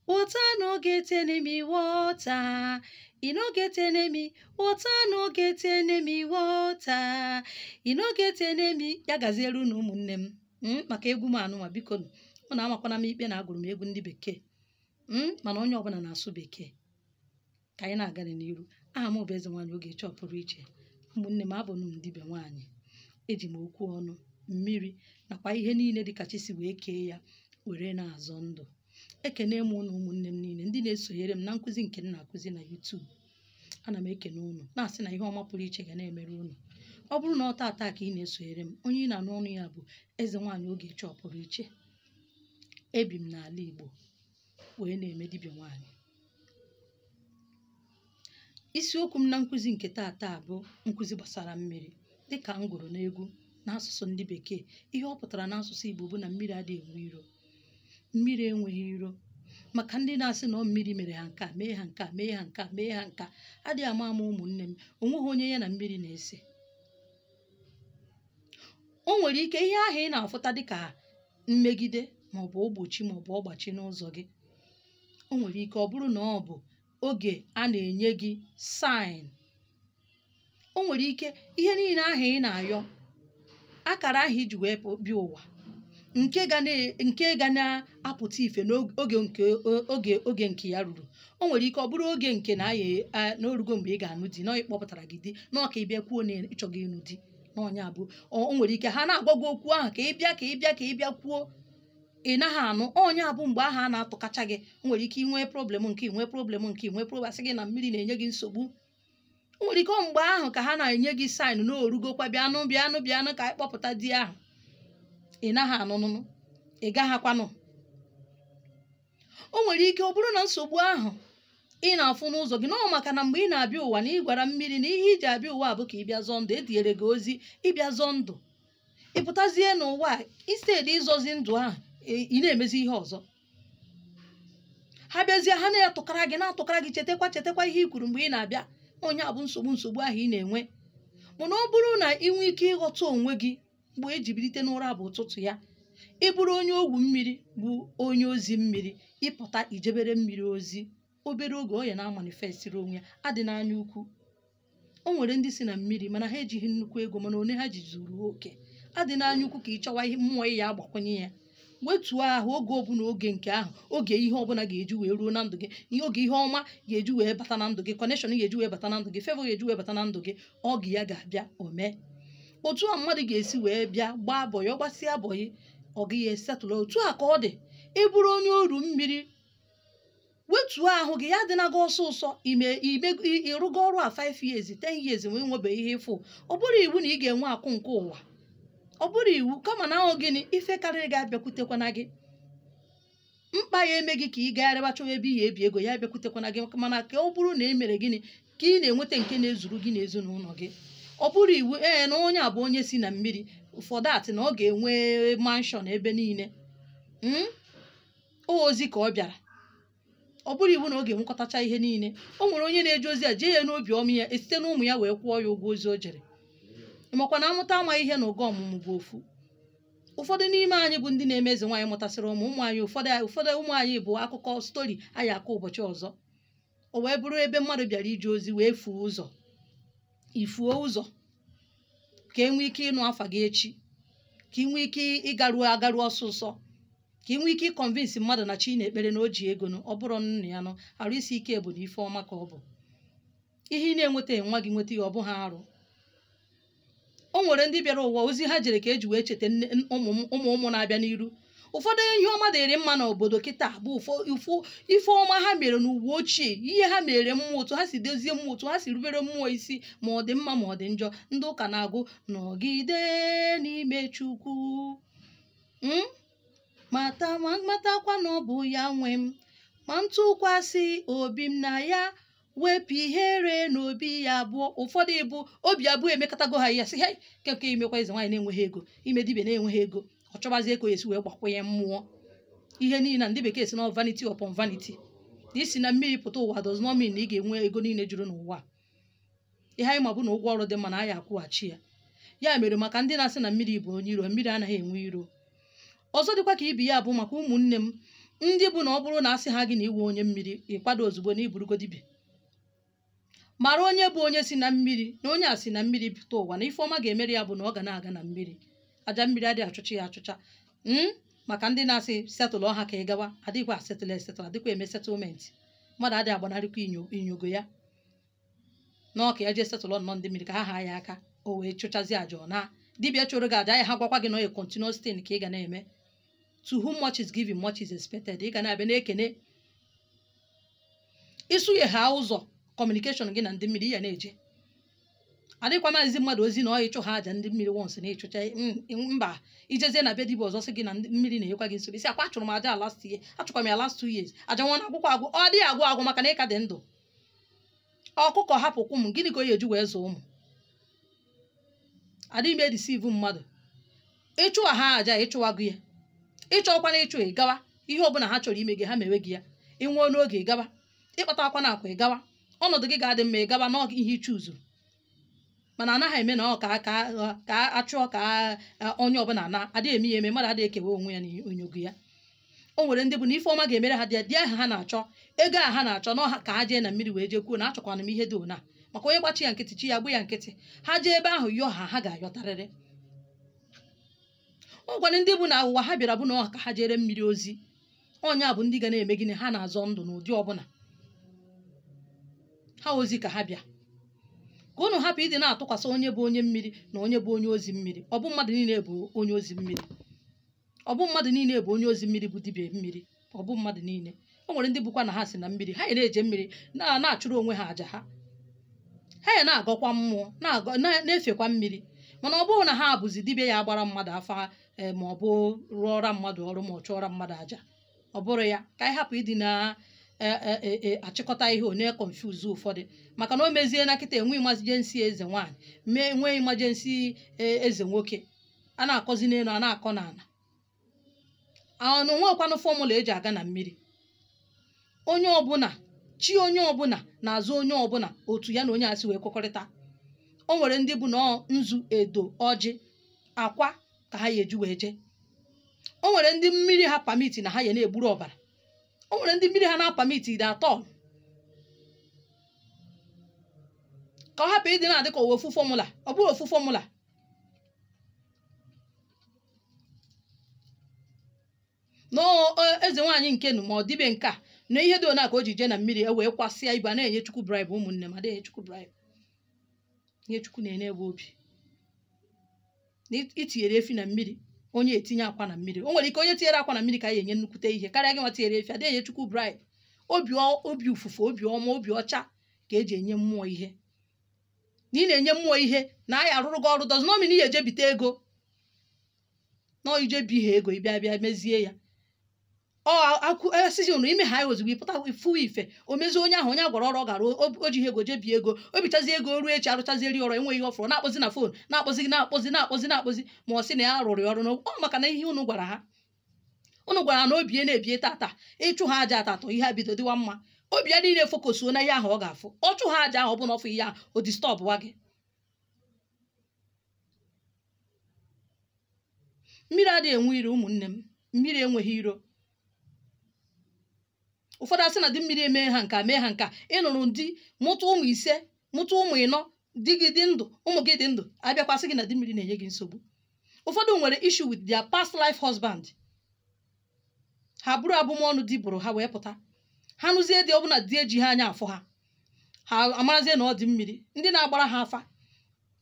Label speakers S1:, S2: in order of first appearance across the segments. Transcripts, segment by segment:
S1: Water no get enemy, water. E no get enemy, water no get enemy, water. E no get enemy, ya gaziere unu ụmụnne m mm, maka egwu m anụnwa biko nụ. Unu amakwana m ikpe na agụrụ m egwu ndị bekee mm, mana onye ọbụna na-asụ bekee ka anyị na-aga n'iru aha m bụ eze nwaanyị Ogechi ọpụrụ iche ụmụnne m abụ m dibịa nwaanyị eji m okwu ọnụ mmiri nakwa ihe niile dị ka chi si wee kee ya were na-azọ ndụ ekene m ụnụ ụmụnne m niile ndị na-esonyere m na nkụzi nke m na-akụzi na YouTube ana m ekene ụnụ na-asị na ihe ọma pụrụ iche ga na-emere ụnụ ọ bụrụ na ọ taata ka ị na-esonyere m onye ị na-anụ onu ya bụ eze nwaanyị Ogechi ọpụrụ iche ebi m n'ala Igbo wee na-eme dibịa nwaanyị isiokwu m na nkụzi nke taata bụ nkụzi gbasara mmiri dịka m gụrụ n'egwu n'asụsụ ndị bekee ihe ọ pụtara n'asụsụ igbo bụ na mmiri adịghị enwe iro mmiri enweghị iro maka ndị na-asị na ọ mmiri mere ha nke a mee ha nke a mee ha nke a mee ha nke a adịghị ama ama ụmụnne m onweghị onye ya na mmiri na-ese o nwere ike ihe ahụ ị na-afụta dịka mmegide ma ọ bụ ogbochi ma ọ bụ ọgbachi n'ụzọ gị o nwere ike ọ bụrụ na ọ bụ oge a na-enye gị saịn o nwere ike ihe niile ahụ ị na-ayọ akara ahụ i ji wee pụ- bịa ụwa nke ga na- nke ga na-apụta ife n'oge nke oge oge nke ya ruru o nwere ike ọ bụrụ oge nke na ya na o rugo mgbe ị ga-anụ di na ọ kpọpụtara gị di na ọ ka ị bịa kwuo na ị chọghị ịnụ di na ọ nya bụ o nwere ike ha na-agwa gị okwu ahụ ka ị bịa ka ị bịa ka ị bịa kwuo ị naghị anụ ọ nya bụ mgbe ahụ a na-atụkacha gị nwere ike inwe problem nke inwe problem nke inwe problem a sị gị na mmiri na-enye gị nsogbu nwere ike mgbe ahụ ka ha na-enye gị saịn na o rugokwa bịanụ bịanụ bịanụ ka anyị kpọpụta di ahụ ị naghị anụnụ ị gaghịkwa anụ o nwere ike ọ bụrụ na nsogbu ahụ ị na-afụ n'ụzọ gị na ọ maka na mgbe ị na-abịa ụwa na ị gwara mmiri na ihe i ji abịa ụwa bụ ka ị bịa zọọ ndụ etinyere gị ozi ịbịa zọọ ndụ ị pụtazie n'ụwa a, instead ịzọzi ndụ ahụ ị- ị na-emezi ihe ọzọ ha bịazie ha na-atụkara gị na-atụkara gị chetakwa chetakwa ihe i kwuru mgbe ị na-abịa ọ nya bụ nsogbu nsogbu ahụ ị na-enwe mana ọ bụrụ na ị nwee ike ịghọta onwe gị mgbe e ji bilite n'ụra bụ ụtụtụ ya ị bụrụ onye ogwu mmiri bụ onye ozi mmiri ị pụta i jebere mmiri ozi obere oge ọ ya na-amanifestiri onwe ya adịna anya ukwu o nwere ndị si na mmiri mana ha ejighị nnukwu ego mana one ha ji zuru oke adịna anya ukwu ka ị chọwa ihe mmụọ ị ya-agbakwunye ya wetuo ahụ oge ọbụla oge nke ahụ oge ihe ọbụla ga-eji wee ruo na ndụ gị ihe oge ihe ọma ga-eji wee bata na ndụ gị connection ga-eji wee bata na ndụ gị favor ga-eji wee bata na ndụ gị oge ya ga-abịa omee otu a mmadụ ga-esi wee bịa gbaa bọyị ọ gbasịa bọyị ọga ya esetụla otu a ka ọ dị ị bụrụ onye oru mmiri wetuo ahụ gị ya adịna gị ọsụsọ ime ime ị- ị rụgo ọrụ a 5 years 10 years wee nwebeghị ihe ị fụ ọ bụrọ iwu na ị ga-enwe akụ nke ụwa ọ bụrọ iwu kama na ahụ gịnị ife karịrị gị abịakwutekwana gị mkpa ya-eme gị ka ị gagharịba chọwa ebe ị ya-ebi ego ya abịakwutekwana gị mana ka ọ bụrụ na e mere gịnị ka ị na-enweta nke na-ezuru gị na ezinụlọ gị ọ bụrọ iwu ee na onye a bụ onye si na mmiri for that na ọ ga-enwe mansion ebe niile Mm? o ozi ka ọ bịara ọ bụrọ iwu na ọ ga-enwekọtacha ihe niile o nwere onye na-eje ozi a jee ya n'obi ọma ya esite na ụmụ ya wee kwụọ ya ụgwọ ozi o jere makwa na amụta amaghị ihe na ụgwọ ọmụmụ bụ ofu ụfọdụ n'ime anyị bụ ndị na-eme eze nwaanyị mụtasịrị ụmụ ụmụ anyị ụfọdụ ụfọdụ ụmụ anyị bụ akụkọ story anyị akọ ụbọchị ọzọ o wee bụrụ ebe mmadụ bịara ije ozi wee fuo ụzọ i fuo ụzọ ka e nwee ike ịnụ afa gị echi ka ị nwee ike ịgaruo agaruo ọsụsọ ka ị nwee ike ịconvince mmadụ na chi ị na-ekpere na o ji ego nụ ọ bụrụ nna ya nụ arụ isi ike bụ na ife ọma ka ọ bụ ihe ị na-enweta nwa gị nweta ya ọ bụghị arụ o nwere ndị bịara ụwa ozi ha jere ka e ji wee cheta nne- n- ụmụ m- ụmụ ụmụ na-abịa n'iru ụfọdụ ihe ọma dịrị mma n'obodo kịta bụ ụfọ- ụfụ ife ọma ha mere n'ụwa ochie ihe ha mere mmụọ otu ha si dozie mmụọ otu ha si rubere mmụọ isi ma ọ dị mma ma ọ dị njọ ndị ụka na-agụ nọgide n'ime chukwu ma matakwa na ọ bụ ya nwe m ma ntụkwasị obi m na ya wepụ ihere na obi abụọ ụfọdụ ịbụ obi abụọ emekatago ha ya sị ha keke imekwa eze nwaanyị na-enweghị ego ime dibia na-enweghị ego ọ chọbazie ka ọ ya-esi wee gbakwunye mmụọ ihe niile na ndị bekee sị na vanity upon vanity isi na mmiri pụta ụwa does not mean na ị ga-enwe ego niile juru n'ụwa ihe anyị ma bụ na ụgwọ ọrụ dị mana a ya-akwụghachi ya ya mere maka ndị na-asị na mmiri bụ onye iro mmiri anaghị enwe iro ọzọ dịkwa ka ibe ya bụ maka ụmụnne m ndị bụ na ọ bụrụ na asị ha gị na ị wụ onye mmiri ị kwado ozugbo na ị bụrụgo dibịa mara onye bụ onye si na mmiri na onye a si na mmiri pụta ụwa na ife ọma ga-emere ya bụ na ọ ga na-aga na mmiri aja mmiri adịghị achụcha ya achụcha maka ndị na-asị setụlụọ ha ka ị gawa adịghịkwa asetụlụ esetụlụ adịkwa eme settlement mmadụ adịghị agbanarịkwa inyo- inyogo ya na ọ ka ya jee setụlụ nnọọ ndị mmiri ka ha haa ya aka o wee chụchazie aja ọ na dibịa chụrụ gị aja ya agwakwa gị na ọ a continuous thing ka ị ga na-eme to whom much is given much is expected ị ga na-abịa na-ekene ịsụnye ha ụzọ communication gị na ndị mmiri ya na-eje adịkwa m ezi mmadụ ozi na ọ ịchụ ha aja ndị mmiri once na ị chụcha mba i jezie na be dibịa ọzọ sị gị na ndị mmiri na-enyekwa gị nsogbu ị sị ọ kwa achụrụ m aja last year achụkwa m ya last two years aja nwa na-agwụkwa agwụ ọ dịghị agwụ agwụ maka na ị ka dị ndụ ọkụkọ hapụ kwọm gịnị ka ọ ya-eji wee zụọ ụmụ adịghị m e-deceive mmadụ ị chụwa ha aja ị chụwago ya ị chọkwana ịchụ ị gawa ihe ọbụla ha chọrọ ime gị ha mewe gị ya ị nwụọ n'oge ị gawa ị kpata akụ na akụ ị gawa ọnọdụ gị ga-adị mma ị gawa n'oge ihe ị chọ zu mana anaghị eme na ọ ka ka ka achụọ ka eh, onye ọbụla na adịghị eme ya eme mmadụ adịghị ekewa onwe ya na onyogo ya o nwere ndị bụ na ife ọma ga-emere ha di di ahụ ha na-achọ ego a ha na-achọ na ọ ka ha jee na mmiri wee jee kwuo na achọkwanụ m ihe dị ona maka onye gba chi ya nkịtị chi ya gba ya nkịtị ha jee ebe ahụ yọọ ha ha ga-ayọtarịrị o nwere ndị bụ na ụwa ha bịara bụ na ọ ka ha jeere mmiri ozi onye a bụ ndị ga na-eme gịnị ha na-azọ ndụ n'ụdị ọbụla ha ozi ka ha bịa ka unu hapụ ịdị na-atụkwasị onye bụ onye mmiri na onye bụ onye ozi mmiri ọ bụ mmadụ niile bụ onye ozi mmiri ọ bụ mmadụ niile bụ onye ozi mmiri bụ dibịa mmiri ọ bụ mmadụ niile o nwere ndị bụkwa na ha si na mmiri ha ya na-eje mmiri na- na-achụrụ onwe ha aja ha ha ya na-agọkwa mmụọ na-agọ- na- na-efekwa mmiri mana ọ bụrọ na ha bụzi dibịa ya-agbara mmadụ afa eh, ma ọ bụ rụọra mmadụ ọrụ ma ọ chụọra mmadụ aja ọ bụrọ ya ka anyị hapụ ịdị na eh, eh, eh, eh, achịkọta ihe ọ na-econfuse ụfọdụ maka na o mezie na kịta enwe emergency eze nwaanyị mee nwee emergency eh, eze nwoke a na-akọzi n'elu a na-akọ n'ala na o nwekwanụ formula eji aga na mmiri onye ọbụla chi onye ọbụla na-azụ onye ọbụla otu ya na onye a si wee kwekọrịta o nwere ndị bụ na ọ nzu edo ọjị akwa ka ha ya eji wee jee o nwere ndị mmiri ha permit na ha ya na-egburu ọbara o nwere ndị mmiri ha na-apermitighị at all ka ọ hapụ ịdị na-adị ka o nwe ofu formula ọ bụrọ ofu formula na ọ- ọ- eze nwaanyị nke nu ma ọ dibịa nke a na ihe dị ona ka o ji jee na mmiri e wee kwasịa ibe a na-enye chukwu bribe ụmụnne m adịghị chukwu bribe ihe chukwu na-ene bụ obi na it- i tinyere efi na mmiri onye tinye akwa na mmiri o nwere ike onye tinyere akwa na mmiri ka a ya-enye nnukwute ihe karịa gị nwa tinyere efi adịghị enye chukwu bribe obi ọ- obi ụfụfụ obi ọma obi ọcha ka eji enye mmụọ ihe na ị na-enye mmụọ ihe na a ya-arụrụ gị ọrụ does not mean ị ya-eje bite ego na ijebi ha ego ị bịa bịa mezie ya ọ akwụ asịsị ụnụ ime ha anyị ozugbo ịpụta ifu ife o mezie onye ahụ onye a gwara ọrụ ọ gara o ji ego jee bie ego o bichazie ego ruo echi arụchaziri ọrụ enweghị ihe ọ fụrụ na-akpọzi na fon na-akpọzi na-akpọzi na-akpọzi na-akpọzi ma ọ sị na ya rụrụ ya ọrụ na ọ maka na ihe ụnụ gwara ha unu gwara na obi ya na-ebie tata ịchụ ha aja atatọ ihe ebido dịwa mma obi ya niile fokosuo na ihe ahụ ọ ga-afụ ọ chụ ha aja ahụ ọ bụ na ọ fụ ihe ahụ o distọbụwa gị mmiri adịghị enwe iro ụmụnne m mmiri enweghị iro ụfọdụ asị na di mmiri emee ha nka mee ha nka ị nụrụ di mụta ụmụ ise mụta ụmụ ịnọ di gị dị ndụ ụmụ gị dị ndụ a bịakwa sị gị na di mmiri na-enye gị nsogbu ụfọdụ nwere issue with their past life husband ha buru abụmọnụ di bụrụ ha wee pụta ha nụzie di ọbụna di eji ha anya afụ ha ha amarazie na ọ di mmiri ndị na-agbara ha afa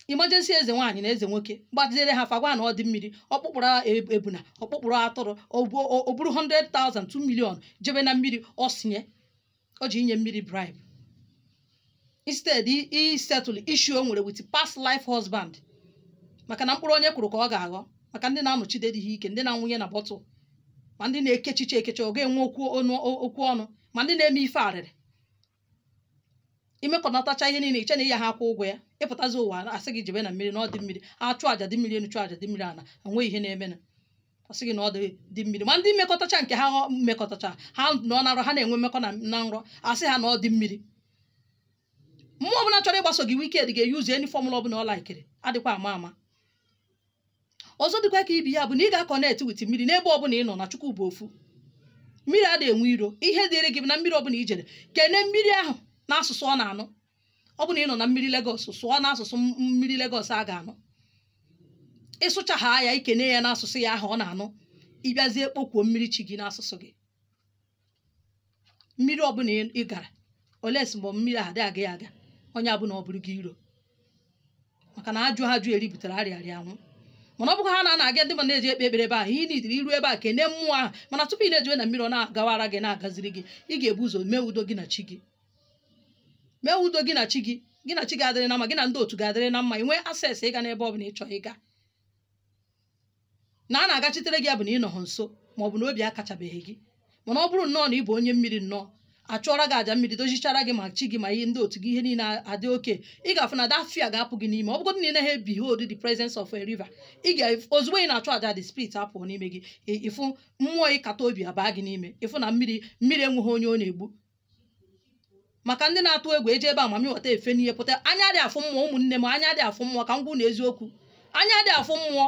S1: emergency eze nwaanyị na eze nwoke gbaziere ha afa gwa na ọ di mmiri ọkpụkpụrụ e- ebuna ọkpụkpụrụ atụrụ o bu- o buru 100,000 2 million jebe na mmiri ọ sinye o ji inye mmiri bribe instead i- i settle issue o nwere with past life husband maka na mkpụrụ onye kụrụ ka ọ ga-aghọ maka ndị na-anọchide di ha ike ndị na-anwụnye na bọtụl ma ndị na-ekechiche ekeche ọ ga-enwe okwu ọnụ okwu ọnụ ma ndị na-eme ife arịrị imekọnatacha ihe niile i che na ị yaha akwụ ụgwọ ya ị pụtazi ụwa a sị gị jebe na mmiri na ọ di mmiri a chụ aja di mmiri enu chụ aja di mmiri ana enweghị ihe na-emenụ ọ sị gị na ọ di di mmiri ma ndị mmekọtacha nke ha ọ- mmekọtacha ha nọ na nrọ ha na-enwe mmekọ na na nrọ a sị ha na ọ di mmiri mmụọ ọbụna chọrọ ịgbaso gị wicked ga-eyuzu any formula ọbụna ọ laikiri adịkwa ama ama ọzọ dịkwa ka ibe ya bụ na ị ga-akọnektị with mmiri n'ebe ọbụna ị nọ na chukwu bụ ofu mmiri adịghị enwe iro ihe dịrị gị bụ na mmiri ọbụna i jere kene mmiri ahụ n'asụsụ ọ na-anụ ọ bụ na ị nọ na mmiri Lagos sụọ n'asụsụ m- mmiri Lagos a ga-anụ ị sụchaa ya i kene ya n'asụsụ ya ahụ ọ na-anụ ị bịazie kpokwuo mmiri chi gị n'asụsụ gị mmiri ọbụla ị- ị gara unless mgbe mmiri ahụ adịghị aga ya aga onye abụna ọ bụrụ gị iro maka na ajụha ajụ eri butere arịa arịa anwụ mana ọ bụkwa ha na na-aga ndị mmadụ na-eje ekpe ekpere ebe ahụ ị nidiri iru ebe a kene mmụọ ahụ mana tupu ị na-ejewe na mmiri ọ na-agawara gị na-agaziri gị ị ga-ebu ụzọ mee udo gị na chi gị mee udo gị na chi gị gị na chi ga-adịrị na mma gị na ndị otu ga-adịrị na mma i nwe access ịga n'ebe ọ bụla ị chọrọ ịga na a na-agachitere gị ya bụ na ị nọghị nso ma ọ bụ na obi akachabeghị gị mana ọ bụrụ nnọọ na ị bụ onye mmiri nnọọ a chụọra gị aja mmiri dozichara gị ma chi gị ma ihe ndị otu gị ihe niile adị okay ị ga-afụ na that fear ga-apụ gị n'ime ọ bụgodị na ị naghị behold the presence of a river ị ga ozugbo ị na-achụ aja the spirit apụọ n'ime gị ị- ị fụ mmụọ ịkata obi abaa gị n'ime ị fụ na mmiri mmiri enweghị onye ọ na-egbu maka ndị na-atụ egwu eje be mami wata efe n'ihe pụta anya adị afụ mmụọ ụmụnne m anya adị afụ mmụọ ka m gwa unu eziokwu anya adị afụ mmụọ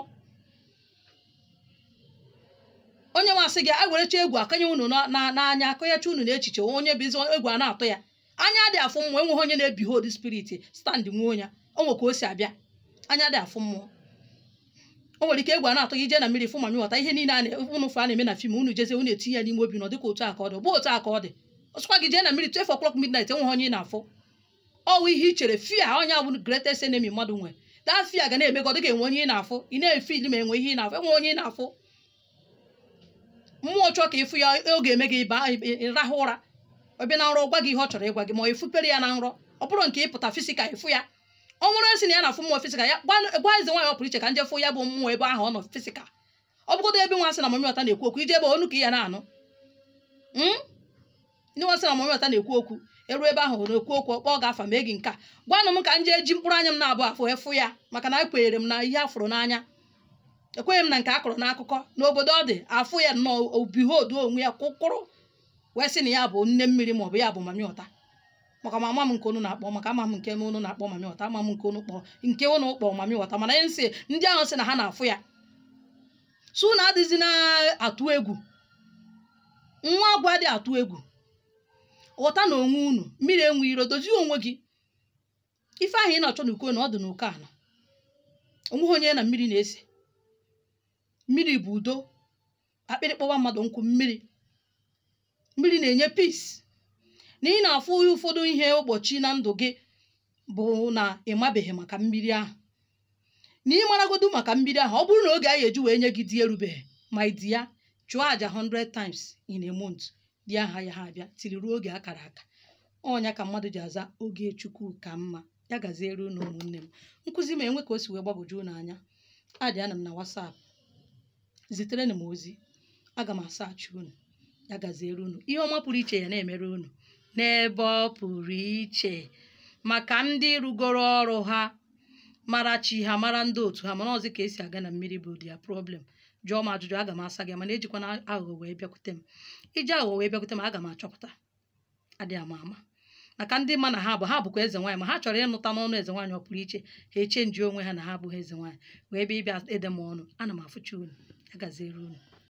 S1: onye masị gị a werecha egwu akanye unu na- na- n'anya akọnyecha unu n'echiche onye bụ ezi egwu a na-atụ ya anya adị afụ mmụọ enweghị onye na-ebehold spirit stand nwuo ya o nwe ka o si abịa anya adị afụ mmụọ o nwere ike egwu a na-atụ gị i je na mmiri fụ mami wata ihe niile a na- unu fụ a na-eme na film unu jezie unu etinye ya n'ime obi na ọ dịka otu a ka ọ dị ọ bụ otu a ka ọ dị ọ sọkwa gị jee na mmiri 12 o'clock midnight enweghị onye ị na-afụ ọ wụ ihe i chere fear ọ nya bụ greatest enemy mmadụ nwe that fear ga na-eme gị ọ dịka enwe onye ị na-afụ ị na-efeel ma enwe ihe ị na-afụ enwe onye ị na-afụ mmụọ chọọ ka ị fụ ya ọ ga-eme gị ịba ịrahụ ụra ọ bịa na nrọ ọ gwa gị ihe ọ chọrọ ịgwa gị ma ọ efupere ya na nrọ ọ bụrụ nke ịpụta physical ị fụ ya ọ nwere onye si na ya na-afụ mmụọ physical ya gwa gwa eze nwaanyị ọ pụrụ iche ka nje fụ ya bụ mmụọ ebe ahụ ọ nọ physical ọ bụgodo ebe nwa sị na mami wata na-ekwu okwu i je ebe onu ka ya na-anụ Mm? ndị nwa sị na mami wata na-ekwu okwu e ruo ebe ahụ hụrụ ekwu okwu ọ kpọọ gị afa mee gị nke a gwanụ m ka nje ji mkpụrụ anya m n'abụọ fụ ya maka na ekwenyere m na ihe a fụrụ n'anya ekweghị m na nke a kọrọ n'akụkọ n'obodo ọ dị afụ ya nnọọ o behold onwe ya kwụkwụrụ wee sị na ya bụ nne mmiri maọbụ ya bụ mami wata maka ma ama m nke unu na-akpọ maka ama m nke m unu na-akpọ mami wata ama m nke unu kpọ nke unu kpọ mami wata mana ihe nsị ndị ahụ sị na ha na-afụ ya so unu adịzi na-atụ egwu nwa agwụ adị atụ egwu ghọta na onwe unu mmiri enwe iro dozie onwe gị ife ahụ ị na-achọ n'uko enu ọ dị n'uko ana o nweghị onye ya na mmiri na-ese mmiri bụ udo akpịrị kpọwa mmadụ nkụ mmiri mmiri na-enye peace na ị na-afụ ụfọdụ ihe mgbochi na ndụ gị bụ na ị mabeghị maka mmiri ahụ na ị maragodu maka mmiri ahụ ọ bụrụ na oge a ya-eji wee nye gị di erubeghị ma di ya chụọ àjà 100 times in a month di ahụ ayaha abịa till ruo oge akara aka ọ nya ka mmadụ ji aza oge chukwu ka mma ya gaziere unu ụmụnne m nkụzi m enwe ka o si wee gbagwoju unu anya addịanụ m na WhatsApp ziterenụ m ozi aga m asachi unu ya gaziere unu ihe ọma pụrụ iche ya na-emere unu n'ebe ọ pụrụ iche maka ndị rụgoro ọrụ ha mara chi ha mara ndị otu ha mana ọ zi ka e si aga na mmiri bụ their problem jụọ m ajụjụ aga m asa gị mana ejikwana aghụghọ wee bịakwute m i ji aghụghọ wee bịakwute m aga m achọpụta adịghị ama ama maka ndị ma na ha bụ ha bụkwa eze nwaanyị ma ha chọrọ ịnụta n'ọnụ eze nwaanyị ọ pụrụ iche ha echenji onwe ha na ha abụghị eze nwaanyị wee bịa ịbịa ede m ọnụ ana m afụcha unu ya gaziere unu